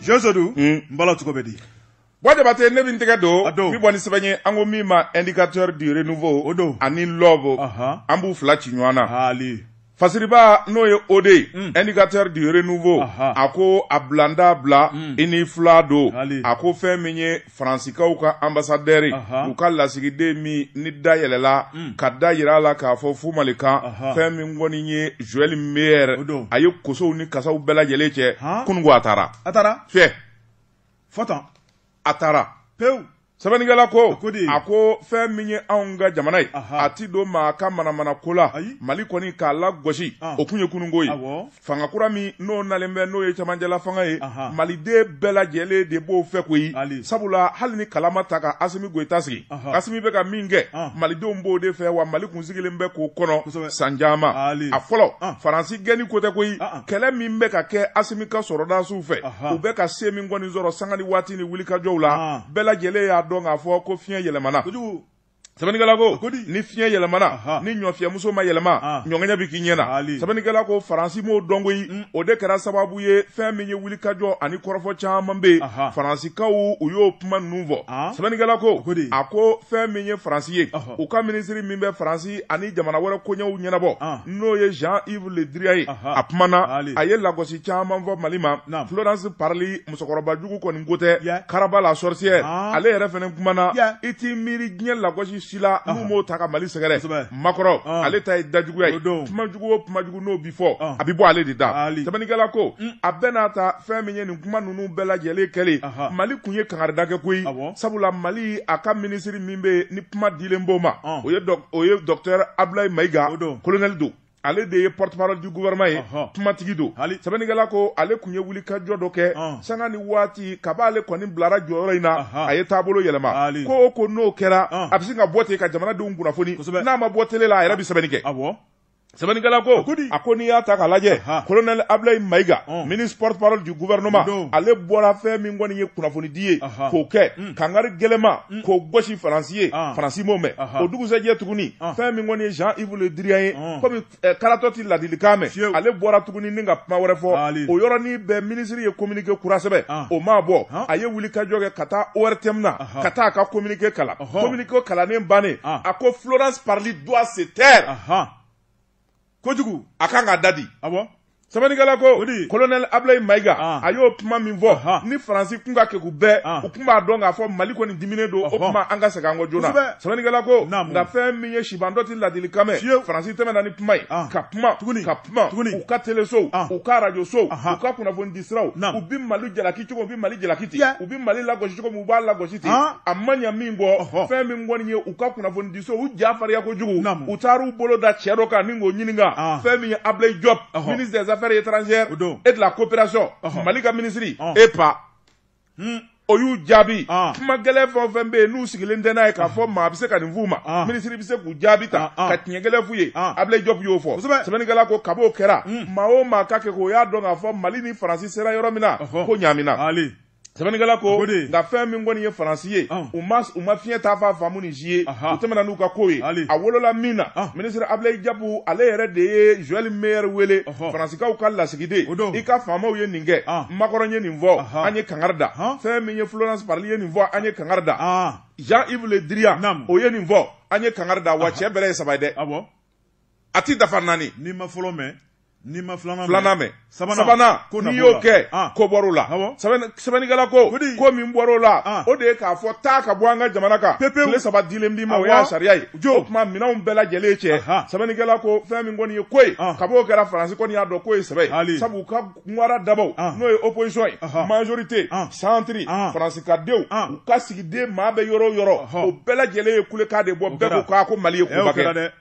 josodu n bala cogo bɛ di bwa jabate ne bɛ n tɛgɛ don n bɛ bɔ ni sɛbɛn ye an ko min ma indicateur du renouveau o don ani l'aube an b'u fila ci ɲɔgɔn na fasiriba n'o ye o de ye indicateur du renouveau a ko a bilanda bila i ni fila don a ko fɛn min ye Faransikaw ka ambassadeur u ka lasigiden min ni da yɛlɛla mm. ka da jira a la k'a fɔ fu mali kan fɛn min kɔni ye joël meyer a ye kosow ni kasaw bɛɛ lajɛlen cɛ kunun a taara a taara fɛ a taara pewu sɛbɛnnikɛla ko a ko fɛn min ye anw ka jamana ye a tɛ don maa ka manamana ko la mali kɔni k'a lagosi o kun ye kununko ye fanga kura min n'o nalen bɛ n'o ye camancɛla fanga ye maliden bɛɛ lajɛlen de b'o fɛ koyi sabula hali ni kala ma ta ka asimi goyita sigi asimi bɛ ka min kɛ malidenw b'o de fɛ wa mali kun sigilen bɛ k'o kɔnɔ san caman a fɔlɔ faransi gɛnni ko tɛ koyi kɛlɛ min bɛ ka kɛ asimi ka sɔrɔdasiw fɛ u bɛ ka se min kɔni sɔrɔ sanga ni waati ni wulikajɔw la bɛɛ lajɛlen y'a dɔn k'a fɔ ko fiɲɛ yɛlɛmana sɛbɛnnikɛla ko ni fiɲɛ yɛlɛmana ni ɲɔfiyɛmuso ma yɛlɛma ɲɔŋɛɲɛ bɛ k'i ɲɛ na sɛbɛnnikɛla ko faransi m'o dɔn koyi mm. o de kɛra sababu ye fɛn min ye wulikajɔ ani kɔrɔfɔ caman bɛ yen faransikaw u y'o kuma ninnu fɔ sɛbɛnnikɛla ko a ko fɛn min ye faransi ye u ka minisiri min bɛ faransi ani jamana wɛrɛ koɲɛw ɲɛnabɔ n'o ye jean yves le drian ye a kumana a ye lagosi caman fɔ mali ma florence parly musokɔrɔbajugu kɔni ko tɛ yeah. karaba la sorcière ah. ale yɛrɛ fana kumana yeah. i t'i miiri diɲɛ lagosi si la ah. n'u m'o ta ka mali sɛgɛrɛ macron ah. ale ta ye dajuguya ye kumajugu o kumajugu n'o bi fɔ ah. a bi bɔ ale de da sɛbɛnnikɛla ko mm. a bɛɛ n'a ta fɛn min ye nin kuma ninnu bɛɛ lajɛlen kɛlen uh -huh. mali kun ye kangarida kɛ koyi sabula mali a ka minisiri min bɛ ni kuma dilen b'o ma o ye docteur abulayi mayiga kolonɛli don ale de ye porte-parole du gouvernement ye kumatigi don sɛbɛnnikɛla ko ale kun ye wulikajɔ dɔ kɛ sanga ni waati kab'ale kɔni bilara jɔyɔrɔ in na a ye taabolo yɛlɛma ko o ko n'o kɛra a bɛ sin ka bɔ ten ka jamanadenw kunnafoni n'a ma bɔ tele la a yɛrɛ bɛ sɛbɛnni kɛ sɛbɛnnikɛla ko a ko n'i y'a ta k'a lajɛ kolonɛli abilayi mayiga ministre porte-parole du gouvernement ale bɔra fɛn min kɔni ye kunnafonidi ye k'o kɛ kangari gɛlɛma mm. k'o gosi faransi ye ah. faransi m'o mɛn o dugusɛjɛ tuguni ah. fɛn min kɔni ye jean yves le drian ye ah. komi eh, karatɔ tɛ ladilikan mɛn ale bɔra tuguni ni ka kuma wɛrɛ fɔ o yɔrɔnin bɛɛ minisiri ye kominike kura sɛbɛn o m'a bɔ a ye wulikajɔ kɛ ka taa ortm na ka taa a ka kominike kalan kominike kalannen bannen a ko florence parly doit se taire kojugu a kan k'a dadi awɔ sɛbɛnnikɛla ko kolonɛli abilayi mayiga ah. a y'o kuma min fɔ ni faransi kun ka kegun bɛɛ ah. u kun b'a dɔn k'a fɔ mali kɔni diminen don o kuma an ka segin an kɔ joona sɛbɛnnikɛla ko nka fɛn min ye sibantɔ ti ladilikan mɛn faransi tɛmɛna ni kuma ye ah. ka kuma ka kuma u ka telesow u ka arajo sow u ka kunnafoni di siraw u bi mali jalaki cogo u bi mali jalaki ten u bi mali lagosi cogo min u b'a lagosi ten a ma ɲa minkɛ fɛn min kɔni ye u ka kunnafoni u ja farinya kojugu u taar'u bolo da cɛ dɔ kan ni k'o ɲininka ah. fɛn min ye Ablaye Diop ministre des affaires étrangères et de la coopération Mali ka minisiri ah. EPA hmm. o y'u jaabi ah. kuma gɛlɛn fɛn o fɛn bɛ yen n'u sigilen tɛ n'a ye k'a fɔ maa bɛ se ka nin f'u ma ah. minisiri bɛ se k'u jaabi tan ah, ka tiɲɛ gɛlɛn f'u ye Ablaye Diop y'o fɔ sɛbɛnnikɛla ko kab'o kɛra hmm. maa o maa ka kegun o y'a dɔn k'a fɔ Mali ni Faransi sera yɔrɔ min na ko ɲaamina. sɛbɛnnikɛla ko nka fɛn min kɔni ye faransi ye u ma u ma fiɲɛ taafan faamu ni si ye u tɛmɛna n'u ka ko ye a wolola min na minisiri abilayi jɔpu ale yɛrɛ de ye joɛli meyɛri wele faransikaw ka lasigiden i ka faamaw ye nin kɛ makɔrɔn ye nin fɔ an ye kangari da fɛn min ye florence parly ye nin fɔ an ye kangari da jean yves le drian o ye nin fɔ an ye kangari da wa cɛ bɛrɛ ye saba ye dɛ a ti dafa naani n'i ma fɔlɔ mɛn n'i ma filanan filanan mɛn sabanan n'i y'o kɛ ah. ko bɔr'o la sɛbɛnnikɛla ko ko min bɔr'o la ah. o de ye k'a fɔ taa ka bɔ an ka jamana kan pepewu tile saba dilen b'i ma o y'a sariya ye o tuma minɛnw bɛɛ lajɛlen cɛ sɛbɛnnikɛla ko fɛn min kɔni ye ko ye ah. kab'o kɛra faransi kɔni y'a dɔn k'o ye sɛbɛ ye sabu u ka ŋara dabaw n'o ye opposition ye majorité centre faransikadenw u ka sigiden maa bɛ yɔrɔ o yɔrɔ o bɛɛ lajɛlen ye kulekan de bɔ bɛɛ ko ko mali ye koba kɛ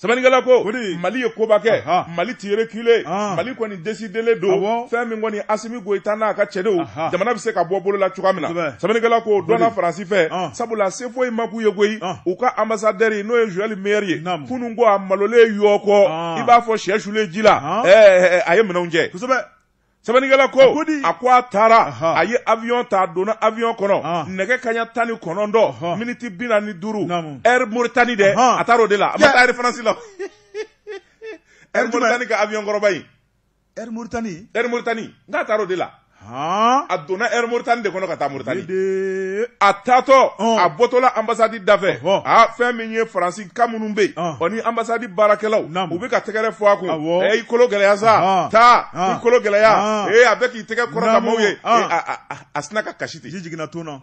sɛbɛnnikɛla ko mali ye koba kɛ mali ti reculer mali kɔni desidelen don fɛn min kɔni asimi goyita n'a ka cɛdenw jamana bɛ se ka bɔ bolola cogoya min na sɛbɛnnikɛla ko dɔnna faransi fɛ sabula se foyi ma k'u ye koyi u ka anbasadɛri n'o ye Joël Meyer ye kunun ko a malolen yɔ ko i b'a fɔ shɛ sulen ji la a ye minɛnw cɛ sɛbɛnnikɛla ko a ko a taara a ye awyɔn ta a donna awyɔn kɔnɔ nɛgɛ kaɲa tan ni kɔnɔntɔn miniti bi naani ni duuru Air Mauritanie dɛ a taara o de la a ma taa Air France la Air Mauritanie ka awyɔn kɔrɔba ye Air Mauritanie Air Mauritanie n k'a taar'o de la haan a donna Air Mauritanie de kɔnɔ ka taa Mauritanie de a taatɔ Ɔn. a bɔtɔla ambassade da fɛ Ɔhɔ. a fɛn min ye faransika minnu bɛ yen Ɔn. o ni ambassade baarakɛlaw Naamu. u bɛ ka tɛgɛrɛ fɔ a kun Awɔ. ee i kolo gɛlɛya sa Ɔn. taa i Ɔn. kolo gɛlɛya Ɔn. ee a bɛ k'i tɛgɛ kɔrɔta Naamu. maaw ye Ɔn. Ee, a- a- a- a sina ka kasi ten ji jiginna ton na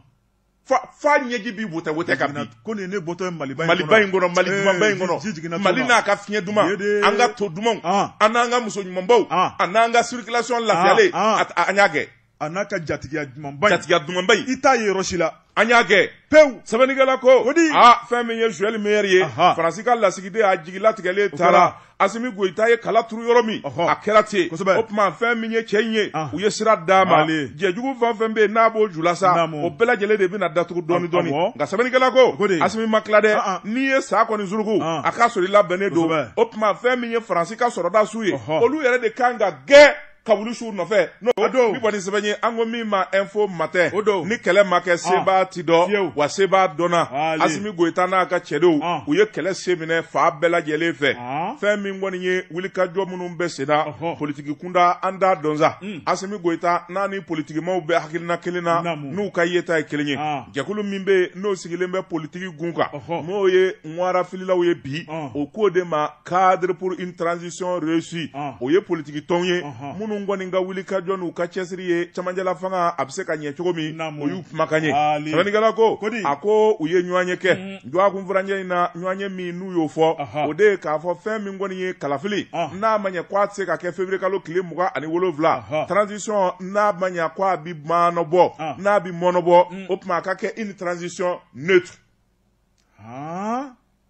fa ɲɛji bi wotɛwotɛ ka bin ko nin ne bɔtɔ ye maliba in maliba in kɔnɔ mali dumanba in kɔnɔ mali n'a ka fiɲɛ duman an ka to dumanw ah. an n'an ka muso ɲumanbaw ah. a n'an ka circulation lafiyalen ah, an y'a kɛ a n'a ka jatigiya dumanba in jatigiya dumanba in i t'a ye yɔrɔ si la an y'a kɛ pewu sɛbɛnnikɛla ko o di aa fɛn min ye joël meyer ye faransi ka lasigiden a jigilatigɛlen taara Asimi Goyita ye kala turu yɔrɔ min, ɔhɔ, a kɛra ten, kosɛbɛ, o tuma fɛn min ye cɛ in ye, an, u ye sira d'a ma, ale, jɛ jugu fɛn o fɛn bɛ yen n'a b'o ju la sa, naamu, o bɛɛ lajɛlen de bɛna datugu dɔɔnin dɔɔnin, awɔ, nka sɛbɛnnikɛla ko, o ko de, Asimi ma tila dɛ, an an, n'i ye sa kɔni suruku, an, a k'a sɔrɔ i labɛnnen don, kosɛbɛ, o tuma fɛn min ye Faransi ka sɔrɔdasiw ye, ɔhɔ, olu yɛrɛ de ka kan ka gɛn ka wuli su nɔfɛ n'o don ni kɔni sɛbɛn ye an ko min ma info matin o don ni kɛlɛ ma kɛ ah. sebaa ti dɔn wa sebaa dɔnna asimi goyita n'a ka cɛdenw ah. u ye kɛlɛ se minɛ fan bɛɛ lajɛlen fɛ ah. fɛn min kɔni ye wulikajɔ minnu bɛ sen na politiki kunda an t'a dɔn sa hmm. asimi goyita n'a ni politikimaw bɛ hakilina kelen na n'u ka yeta ye kelen ye jɛkulu min bɛ yen n'o sigilen bɛ politiki gun kan n'o ye ŋwara fililaw ye bi o k'o de ma cadre pour une transition réussie ah. o ye politiki tɔnw ye minnu kɔni ka wulikajɔ n'u ka cɛsiri ye cɛmancɛla fanga a bɛ se ka ɲɛ cogo min o y'u kumakan ye sɛbɛnnikɛla ko a ko u ye ɲɔgɔnye kɛ mm. duwakun furancɛ in na ɲɔgɔnye min n'u y'o fɔ o de ye k'a fɔ fɛn min kɔni ye kalafili ah. n'a ma ɲɛ ko a tɛ se ka kɛ février kalo tile mugan ani wolonwula transition n'a ma ɲɛ ko a bɛ mɔnɔbɔ ah. n'a bɛ mɔnɔbɔ mm. o tuma a ka kɛ une transition neutre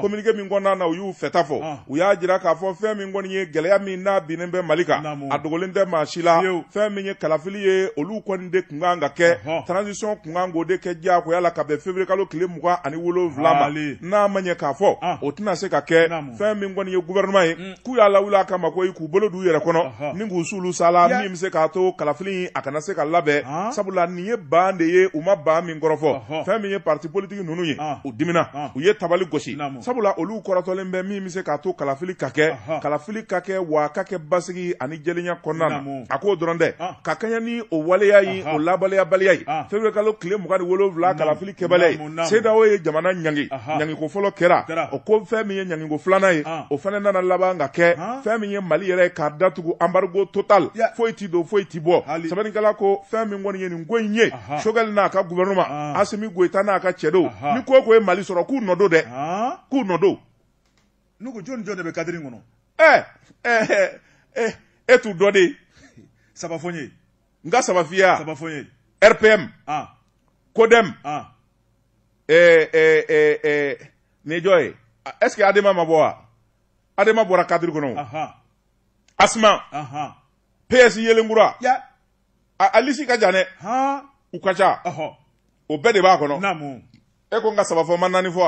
communiqué min kɔnɔna na u y'u fɛta fɔ ah. u y'a jira k'a fɔ fɛn min kɔni ye gɛlɛya min n'a binnen bɛ mali kan a dogolen tɛ maa si la fɛn min ye kalafili ye olu kɔni de kun kan ka kɛ transition kun kan k'o de kɛ diyagoya la ka bɛn février kalo tile mugan ani wolonwula ma n'a ma ɲɛ k'a fɔ ah. o tɛna se ka kɛ fɛn min kɔni ye gouvernement ye mm. k'u y'a lawuli a kama ko k'u bolo d'u yɛrɛ kɔnɔ ni k'u s'olu sala min bɛ se k'a to kalafili a kana se ka labɛn sabula nin ye ban de ye u ma ban min kɔrɔfɔ fɛn min ye parti politique ninnu ye u dimina u ye tabali gosi sabula olu kɔrɔtɔlen bɛ min bɛ se k'a to kalafili ka kɛ kalafili ka kɛ wa a ka kɛ basigi ani jɛlenya kɔnɔna na a k'o dɔrɔn tɛ ka kɛɲɛ ni o waleya ye o lawaleyabaliya ye février kalo tile mugan ni wolonwula kalafili kɛbaliya ye cedeao ye jamana ɲangi ɲangiko fɔlɔ kɛra o ko fɛn min ye ɲangiko filanan ye o fana nana laban ka kɛ fɛn min ye mali yɛrɛ ye k'a datugu embargo total foyi tɛ don foyi tɛ bɔ sɛbɛnnikɛla ko fɛn min kɔni ye nin ko in ye sogɛli n'a ka gouvernement asimi goyita n'a ka cɛdenw ni ko o ko ye mali sɔrɔ k'u nɔ don dɛ k'u nɔ don n'u ko jɔn ni jɔn de bɛ cadre kɔnɔ ɛɛ ɛɛ e t'u dɔ de saba fɔ n ye n ka saba f'i ye saba fɔ n ye rpm ah kodɛm ah eh, eh, eh, eh, nin ye jɔn ye est ce que adema ma bɔ wa adema bɔra kadiri kɔnɔ o. aha asma aha ps yelenkura ya a a lisi ka jan dɛ ha u ka ca ɔhɔ o bɛɛ de b'a kɔnɔ naamu e ko n ka saba fɔ ma naani fɔ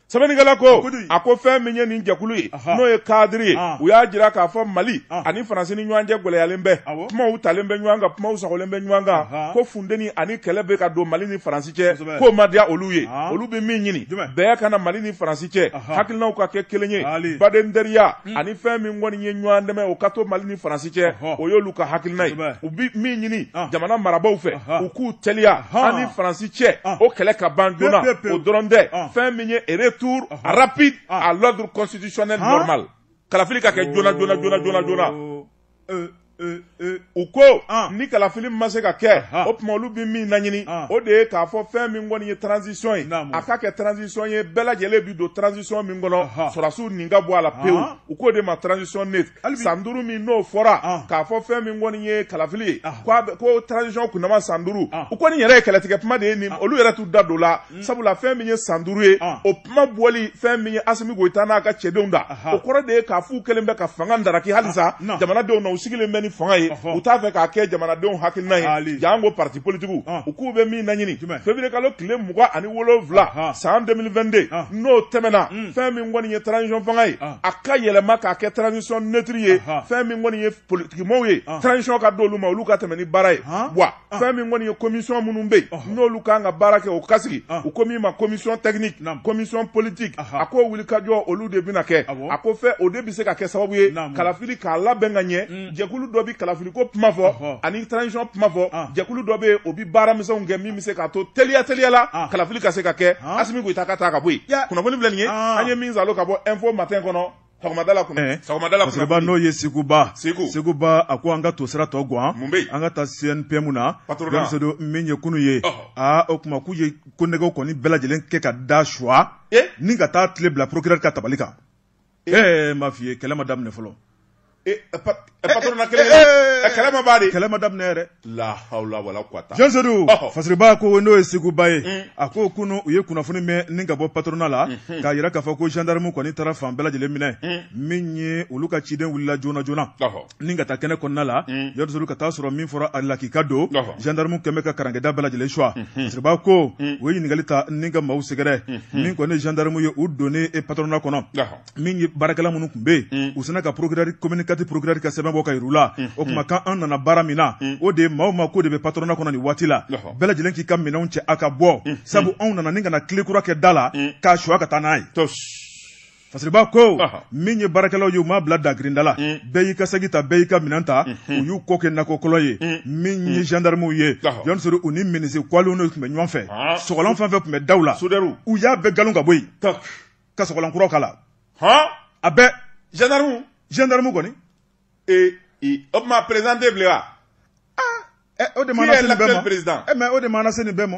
sɛbɛnnikɛla ko a ko fɛn min ye nin jɛkulu ye n'o ye kadiri ye u y'a jira k'a fɔ mali ani faransi ni ɲɔgɔn cɛ gɛlɛyalen bɛ kumaw talen bɛ ɲɔgɔn kan kumaw sagolen bɛ ɲɔgɔn kan ko funteni ani kɛlɛ bɛ ka don mali ni faransi cɛ k'o ma diya olu ye olu bɛ min ɲini bɛn ka na mali ni faransi cɛ hakilinaw ka kɛ kelen ye baden teriya Hmm. ani fɛn min kɔni ye ɲɔgɔn dɛmɛ o ka to mali ni faransi cɛ o y'olu ka hakilina ye u bɛ min ɲini ah. jamana marabaw fɛ u k'u teliya an ni faransi cɛ ah. o kɛlɛ ka ban joona o dɔrɔn tɛ ah. fɛn min ye retour rapide à l'ordre constitutionnel normal kalafili ka kɛ joona joona joona joona joona euh, euh, euh, u ko ah. ni kalafili ma se ka kɛ ah, ah. o tuma olu bɛ min laɲini o de ye k'a fɔ fɛn min kɔni ye transition ye a ka kɛ transition ye bɛɛ lajɛlen bi don transition min kɔnɔ sɔrɔdasiw nin ka bɔ a la pewu u k'o de ma transition neutre san duuru min n'o fɔra k'a fɔ fɛn min kɔni ye kalafili ye ko transition kunnama san duuru o kɔni yɛrɛ ye kɛlɛtigɛ kuma de ye nin olu yɛrɛ t'u da don la Hmm. sabula fɛn min ye san duuru ye ah. o kuma bɔli fɛn min ye asimi goyita n'a ka cɛdenw da o kɔrɔ de ye k'a f'u kɛlen bɛ ka fanga daraki halisa ah, jamanadenw na u sigilen bɛ ni fanga ye u t'a fɛ k'a kɛ jamanadenw hakilina ye janko parti politigiw ah. u k'u bɛ min naɲini février kalo tile mugan ani wolonwula san 2022 n'o tɛmɛna hmm. fɛn min kɔni ye transition fanga ye a ka yɛlɛma k'a kɛ transition neutre ye fɛn min kɔni ye politikimɔgɔw ye transition ka d'olu ma olu ka tɛmɛ ni baara ye wa ah. fɛn min kɔni ye commission minnu bɛ yen n'olu ka kan ka baara kɛ o ka sigi ah. u ko min ma commission technique commission politique a ko wulikajɔ olu de bɛna kɛ a ko fɛ o de bɛ se ka kɛ sababu ye kalafili ka labɛn ka ɲɛ mm. jɛkulu dɔ bɛ kalafiliko kuma fɔ ani transition kuma fɔ ah. jɛkulu dɔ bɛ yen o bɛ baara misɛnw kɛ min bɛ se k'a to teliya teliya la kalafili ka se ka kɛ Asimi Goyita ka taa ka bɔ yen kunnafoni filɛ nin ye an ye min salo ka bɔ info matin kɔnɔ sɔgɔmadala kun eh, sɔgɔmadala kun sɛba n'o ye seguba segu seguba a ko an ka to sira tɔ guwan mun bɛ an ka taa CNPM na don min ye kunu ye a o kuma k'u ye konnɛgɛw kɔni bɛɛ lajɛlen kɛ ka da suwa eh? ni ka taa kile bila procureur ka tabali kan eh, eh m'a f'i ye kɛlɛ ma daminɛ fɔlɔ Eh, eh, patronat kɛlɛ eh, kɛlɛ ma ban dɛ kɛlɛ ma daminɛ yɛrɛ la hawla wala quwata Jean Sodou fasiriba ko n'o ye Seguba ye mm. a ko kunu u ye kunnafoni mɛn ni ka bɔ patronat la mm-hmm. k'a yira k'a fɔ ko gendarme kɔni taara fan bɛɛ lajɛlen minɛ mm. min ye olu ka ciden wulila joona joona ni ka taa kɛnɛ kɔnɔna la mm. Jean Sodou ka taa sɔrɔ min fɔra a lakika don gendarme kɛlen bɛ ka karankɛda bɛɛ lajɛlen suwa mm-hmm. fasiriba ko u ye ɲininkali ta ni ka maaw sɛgɛrɛ mm-hmm. min kɔni gendarme ye u donnen patronat kɔnɔ min ye baarakɛla minnu tun bɛ yen mm. u sina ka procureur commune quatre procureur ka sɛbɛn bɔ k'a yir'u la mm. o kuma mm. ko an nana baara min na o de ye maa o maa kɔni bɛ patronna kɔnɔ nin waati la bɛɛ lajɛlen k'i ka minɛnw cɛ a ka bɔ sabu anw nana ni ka na kile kura kɛ da la k'a suwa ka taa n'a ye fasiriba ko min ye baarakɛlaw ye u m'a bila dagirinda la bɛɛ y'i ka sagi ta bɛɛ y'i ka minɛn ta u y'u kɔ kɛ nakɔkɔlɔ ye min ye gendarmew ye Jɔn Sedu u ni minisi kwaliw de tun bɛ ɲɔgɔn fɛ sɔgɔlan fɛn fɛn tun bɛ daw la u y'a bɛɛ galon ka bɔ yen ka sɔgɔlan kuraw k'a la hɔn a bɛɛ gendarme gendarme kɔni ee o kuma président tɛ bilen wa o de mana se nin bɛɛ ma eh, mais o de mana se nin bɛɛ ma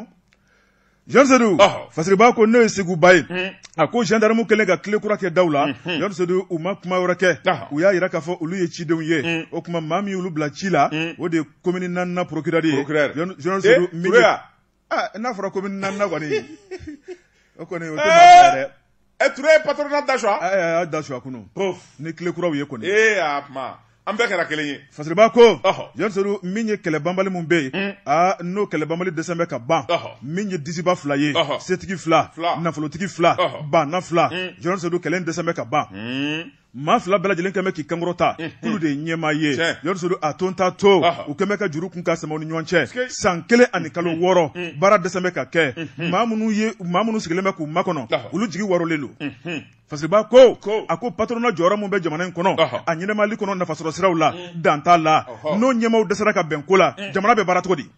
Jɔn Sedu fasiriba ko n'o ye Seguba ye hmm. a ko gendarme kɛlen ka kile kura kɛ daw la Jɔn hmm, hmm. Sedu u ma kuma wɛrɛ kɛ u y'a yira k'a fɔ olu ye cidenw ye o kuma maa min y'olu bila ci la o de ye commune naaninan procureur ye Jɔn Sedu eh, Aa n'a fɔra commune naaninan kɔni o kɔni o dɛ ɛ Ture ye patronna da suwa a y'a da suwa kunun ni kile kuraw ye kɔni ee an bɛɛ kɛra kelen ye fasiriba ko Jɔn Sedu min ye kɛlɛ banbali min bɛ yen aa n'o kɛlɛ banbali dɛsɛ bɛ ka ban min ye disiba fila ye setigi fila nafolotigi fila baana fila Jɔn Sedu kɛlɛ dɛsɛ bɛ ka ban maa fila bɛɛ lajɛlen kɛmɛ k'i kan kɔrɔta k'olu de ye ɲɛmaa ye Jɔn Sedu a to n t'a to u kɛmɛ ka juru kun ka sama u ni ɲɔgɔn cɛ san kelen ani kalo wɔɔrɔ baara dɛsɛ bɛ ka kɛ maa minnu ye maa minnu sigilen bɛ k'u makɔnɔ olu jigi waarolen don fasiriba ko a ko patronna jɔyɔrɔ min bɛ jamana in kɔnɔ a ɲɛnɛmali kɔnɔ nafasɔrɔsiraw la dan t'a la n'o ɲɛmaaw dɛsɛra ka bɛn ko la jamana bɛ baara cogo di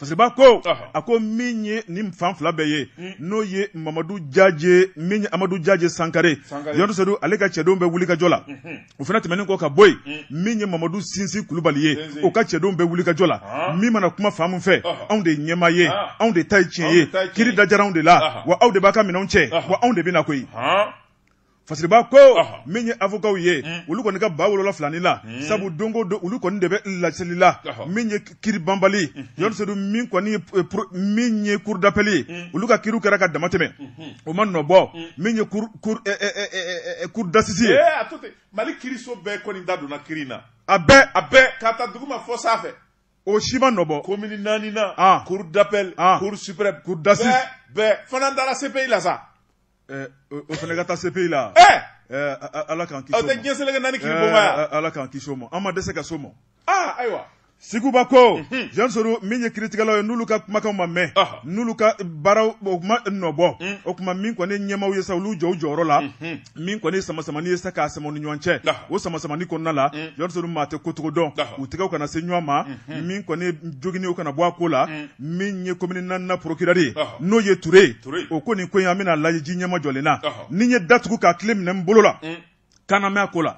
Fasiriba ko a ko min ye nin fan fila bɛɛ ye hmm. n'o ye mamadu jaje min ye amadu jaje sankare Jɔn Sedu ale ka cɛdenw bɛ wulikajɔ la hmm. o fana tɛmɛnen kɔ ka bɔ yen hmm. min ye mamadu sinsin kulubali ye o ka cɛdenw bɛ wulikajɔ la ah. min mana kuma fan min fɛ anw de ɲɛmaa ye ah. anw de ta ye tiɲɛ ye kiri dajara anw de la wa aw de b'a ka minɛnw cɛ wa anw de bɛ na koyi fasiriba ko min ye avocatw ye hmm. olu kɔni ka ba wolola filani la hmm. sabu don go don olu kɔni de bɛ laseli la min ye kiri banbali Jɔn Sedu hmm. min kɔni ye eh, min ye cour d'appel ye olu ka kiriw kɛra ka dama tɛmɛ o ma nɔ bɔ min ye cour eh, eh, d'assises ye mali kiriso bɛɛ kɔni da donna kiri in na a bɛɛ a bɛɛ k'a ta duguma fɔ sanfɛ o si ma nɔ bɔ commune naaninan cour d'appel cour suprême cour d'assises bɛɛ fana dara CPI la sa Ɛɛ o fana ka taa CPI la ala k'an kisi tɛ diɲɛ seleke naani kiri ala k'an kisi o ma an ma dɛsɛ ka s'o ma ayiwa seguba ko Jɔn Sedu min ye kiritigɛlaw ye n'olu ka kumakan ma mɛn n'olu ka baaraw o ko ma nɔ bɔ o kuma min kɔni ɲɛmaaw ye sa olu jɔ u jɔyɔrɔ la min kɔni samasamani ye sa k'a sama u ni ɲɔgɔn cɛ o samasamani kɔnɔna la Jɔn Sedu maa tɛ ko cogo dɔn u tɛgɛw kana se ɲɔgɔn ma min kɔni joginni kana bɔ a ko la min ye komini naaninan porokirɛri ye n'o ye ture ye o ko nin ko in an bɛna lajiji ɲɛma jɔlen na ni n ye datugu k'a kile minɛ n bolo la mm. kana mɛn a ko la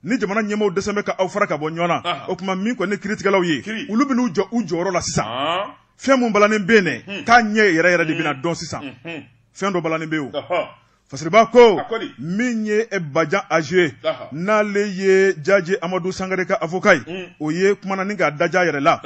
ni jamana ɲɛmaw dɛsɛ bɛ ka aw fara ka bɔ ɲɔgɔn na o tuma min kɔni kiritigɛlaw ye olu bɛn'u jɔ u jɔyɔrɔ la sisan fɛn min balannen bɛ yen dɛ hmm. k'a ɲɛ yɛrɛ yɛrɛ de bɛna hmm. dɔn sisan hmm. fɛn dɔ balannen bɛ yen o fasiriba ko min ye e bajan aje ye n'ale ye jaje amadu sangare ka avoka ye mm. o ye kuma nani k'a daja yɛrɛ la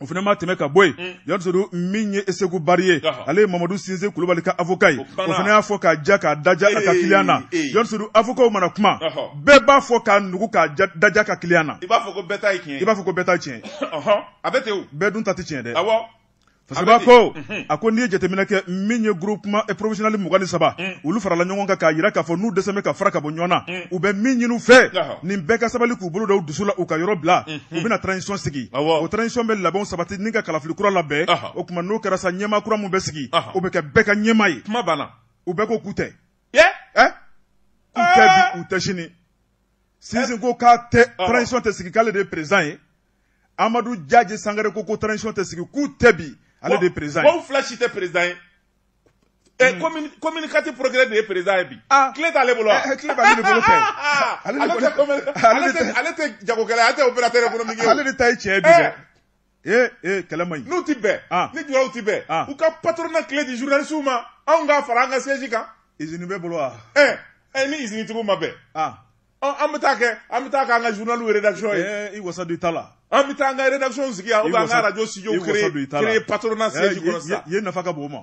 o fana ma tɛmɛ ka bɔ yen mm. y'a sɔrɔ dun min ye e seku bari ye ale ye mamadu sinsi kulubali ka avoka ye o fana y'a fɔ k'a ja k'a daja a ka kiliyan na y'a sɔrɔ dun avokaw mana kuma bɛɛ b'a fɔ k'a nugu k'a daja ka kiliyan na i b'a fɔ ko bɛɛ ta ye tiɲɛ i b'a fɔ ko bɛɛ ta ye tiɲɛ a bɛ ten o bɛɛ dun ta tɛ tiɲɛ dɛ fasiriba ko a ko n'i ye jateminɛ kɛ min ye groupement professionnel mugan ni saba olu farala ɲɔgɔn kan k'a yira k'a fɔ n'u dɛsɛ bɛ ka fara ka bɔ ɲɔgɔnna u bɛ min ɲini u fɛ nin bɛɛ ka sabali k'u bolo da u dusu la u ka yɔrɔ bila u bɛna transition sigi o transition bɛ labɛnw sabati ni ka kalafili kura labɛn o tuma n'o kɛra sa ɲɛma kura min bɛ sigi o bɛ kɛ bɛɛ ka ɲɛma ye kuma banna u bɛɛ ko k'u tɛ k'u tɛ bi u tɛ sini sinsin ko ko transition tɛ sigi k'ale de ye président ye amadu jaji sangare ko ko transition tɛ sigi k'u tɛ bi ale de ye président ye. fila si tɛ président ye. Eh, hmm. commune quatre procureur de ye président ye bi clé ah. t'ale bolo wa eh, clé b'ale de bolo kɛ ale tɛ jagokɛla ye ale tɛ opérateur économique ye ale de ta ye tiɲɛ ye bi dɛ ee ee kɛlɛ man ɲi n'u ti bɛn ah. ni julaw ti bɛn ah. u ka patronat clé di journalistew ma anw k'a fara an ka siège kan izini b'e bolo wa ɛɛ eh, ni izini tigiw ma bɛn an bɛ taa kɛ an bɛ taa kɛ an ka journal rédaction ye eh, i wasa don i ta la an bɛ taa an ka rédaction sigi yan ou bien an ka radio studio créer patronat siège kɔnɔ sisan yen nafa ka bon o ma